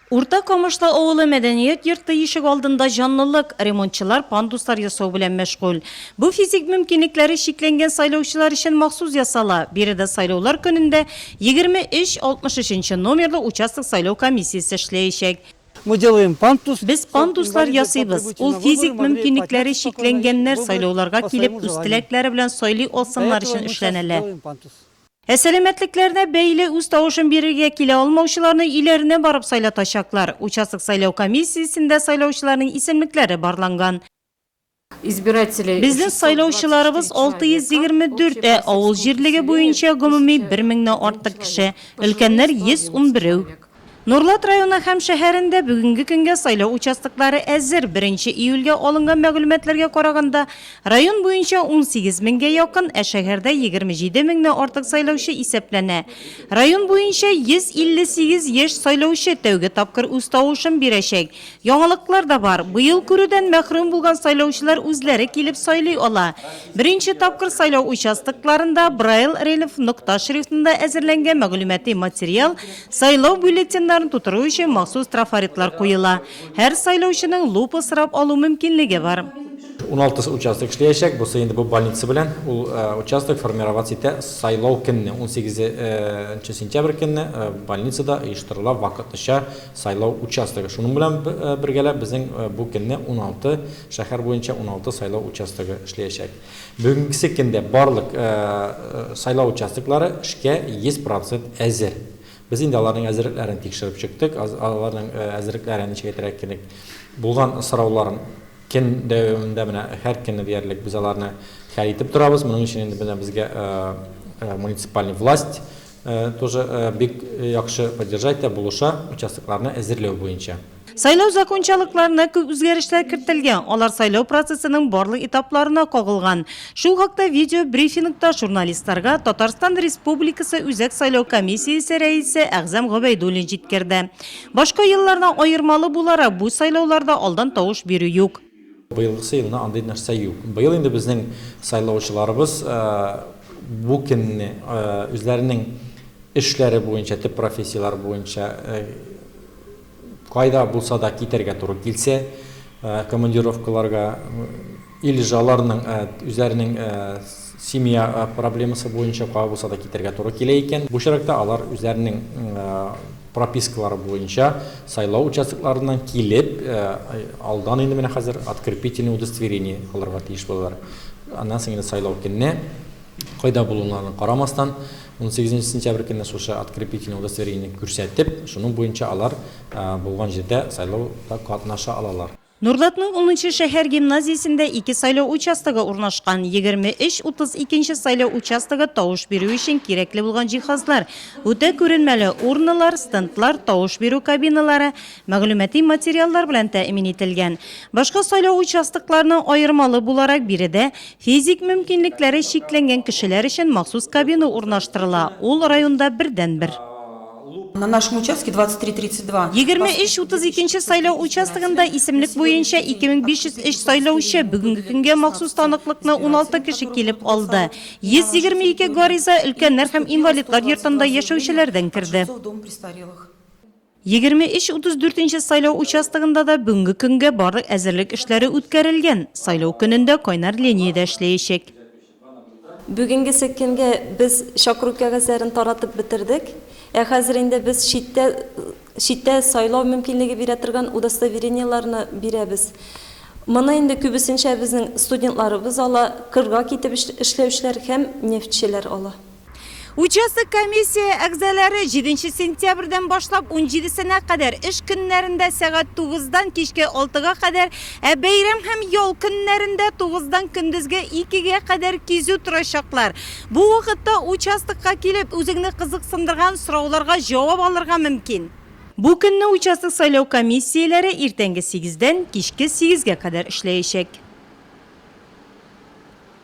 Урта Камышлы авылы мәдәният йорты ишек алдында җанлылык, ремонтчылар пандуслар ясау белән мәшгуль. Бу физик мөмкинлекләре чикләнгән сайлаучылар өчен махсус ясала, биредә сайлаулар көнендә 23 63 нчы номерлы участок сайлау комиссиясе эшләячәк. Мы делаем пандус. Без пандуслар ясыйбыз, ул физик мөмкинлекләре чикләнгәннәр сайлауларга килеп үз теләкләре белән сайлый алсыннар өчен эшләнәлә. Ә сәламәтлекләренә бәйле үз тавышын бирергә килә алмаучыларны өйләренә барып сайлатачаклар. Участок сайлау комиссиясендә сайлаучыларның исемлекләре барланган. Безнең сайлаучыларыбыз 624, ә авыл җирлеге буенча гомуми бер меңнән артык кеше, өлкәннәр 111. Нурлат районы һәм шәһәрендә бүгенге көнгә сайлау участоклары әзер, беренче июльгә алынган мәгълүматларга караганда, район буенча унсигез меңгә якын, ә шәһәрдә егерме җиде меңнән артык сайлаучы исәпләнә. Район буенча 158 яшь сайлаучы тәүге тапкыр үз тавышын бирәчәк, Яңалыклар да бар. Быел күрүдән мәхрүм булган сайлаучылар үзләре килеп сайлый ала. Беренче тапкыр сайлау участокларында Брайл рельеф нокта шрифтында әзерләнгән мәгълүмати материал, сайлау бюллетеньнарын тутыру өчен махсус трафаретлар куела. Һәр сайлаучының лупа сорап алу мөмкинлеге бар. Уналты участок эшләячәк. Бусы инде бу больница белән. Ул участок формироваться итә сайлау көнне, унсигезе нче сентябрь көнне больницада оештырыла вакытлыча Сайлау участогы. Шуның белән бергәләп безнең бу көнне 16 шәһәр буенча 16 сайлау участогы эшләячәк. Бүгенгесе көндә барлык сайлау участоклары эшкә 100% әзер. Без инде аларның әзерлекләрен тикшереп чыктык, аларның әзерлекләрен ничек әйтергә кирәк, булган сорауларын көн дәвамында менә һәр көнне диярлек без аларны хәл итеп торабыз. Моның өчен инде менә безгә муниципальный власть Тоже бик яхшы поддержать та булыша участокларны әзерләү буенча. Сайлау закончалыкларына күп үзгәрешләр кертелгән, алар сайлау процессының барлык этапларына кагылган. Шул хакта видеобрифингта журналистларга Татарстан Республикасы Үзәк сайлау комиссиясе рәисе Әгъзам Гобәйдуллин җиткерде. Башка еллардан аермалы буларак, бу сайлауларда алдан тавыш бирү юк. Быелгысы елны андый нәрсә юк. Быел инде безнең сайлаучыларыбыз бу көнне үзләренең эшләре буенча, төп профессияләре буенча кайда булса да китәргә туры килсә, командировкаларга, илж аларның үзләренең семья проблемасы буенча кая булса да китәргә туры килә икән, бу чиракта алар үзләренең пропискалары буенча сайлау участокларыннан килеп, алдан инде менә хәзер открепительный удостоверение алырга тиеш булалар. Аннан соң инде сайлау көнне, кайда булуларына карамастан, 18 нче сентябрь көнне шушы открепительный удостоверение күрсәтеп, шуның буенча алар булган җирдә сайлауда катнаша алалар. Нурлатның унынчы шәһәр гимназиясендә ике сайлау участогы урнашкан. Егерме өч, утыз икенче сайлау участогы тавыш бирү өчен кирәкле булган җиһазлар, үтә күренмәле урнылар, стендлар, тавыш бирү кабиналары, мәгълүмати материаллар белән тәэмин ителгән. Башка сайлау участокларының аермалы буларак, биредә физик мөмкинлекләре чикләнгән кешеләр өчен махсус кабина урнаштырыла, ул районда бердәнбер. На нашем участке 2332. Егерме өч утыз икенче сайлау участогында исемлек буенча 2503 сайлаучы бүгенге көнгә махсус таныклыкны 16 кеше килеп алды. 122 гариза өлкәннәр һәм инвалидлар йортында яшәүчеләрдән керде. Дом престарелых. Егерме өч утыз дүртенче сайлау участогында да бүгенге көнгә барлык әзерлек эшләре үткәрелгән, сайлау көнендә кайнар линия дә эшләячәк. Бүгенгесе көнгә без чакыру кәгазьләрен таратып бетердек. Ә хәзер инде без читтә читтә сайлау мөмкинлеге бирә торган удостоверениеләрне бирәбез. Моны инде күбесенчә безнең студентларыбыз ала, кырга китеп эшләүчеләр һәм нефтьчеләр ала. Участок комиссия әгъзалары җиденче сентябрьдән башлап унҗидесенә кадәр эш көннәрендә сәгать тугыздан кичке алтыга кадәр, ә бәйрәм һәм ял көннәрендә тугыздан көндезге икегә кадәр кизү торачаклар. Бу вакытта участокка килеп, үзеңне кызыксындырган сорауларга җавап алырга мөмкин. Бу көнне участок сайлау комиссияләре иртәнге сигездән кичке сигезгә кадәр эшләячәк.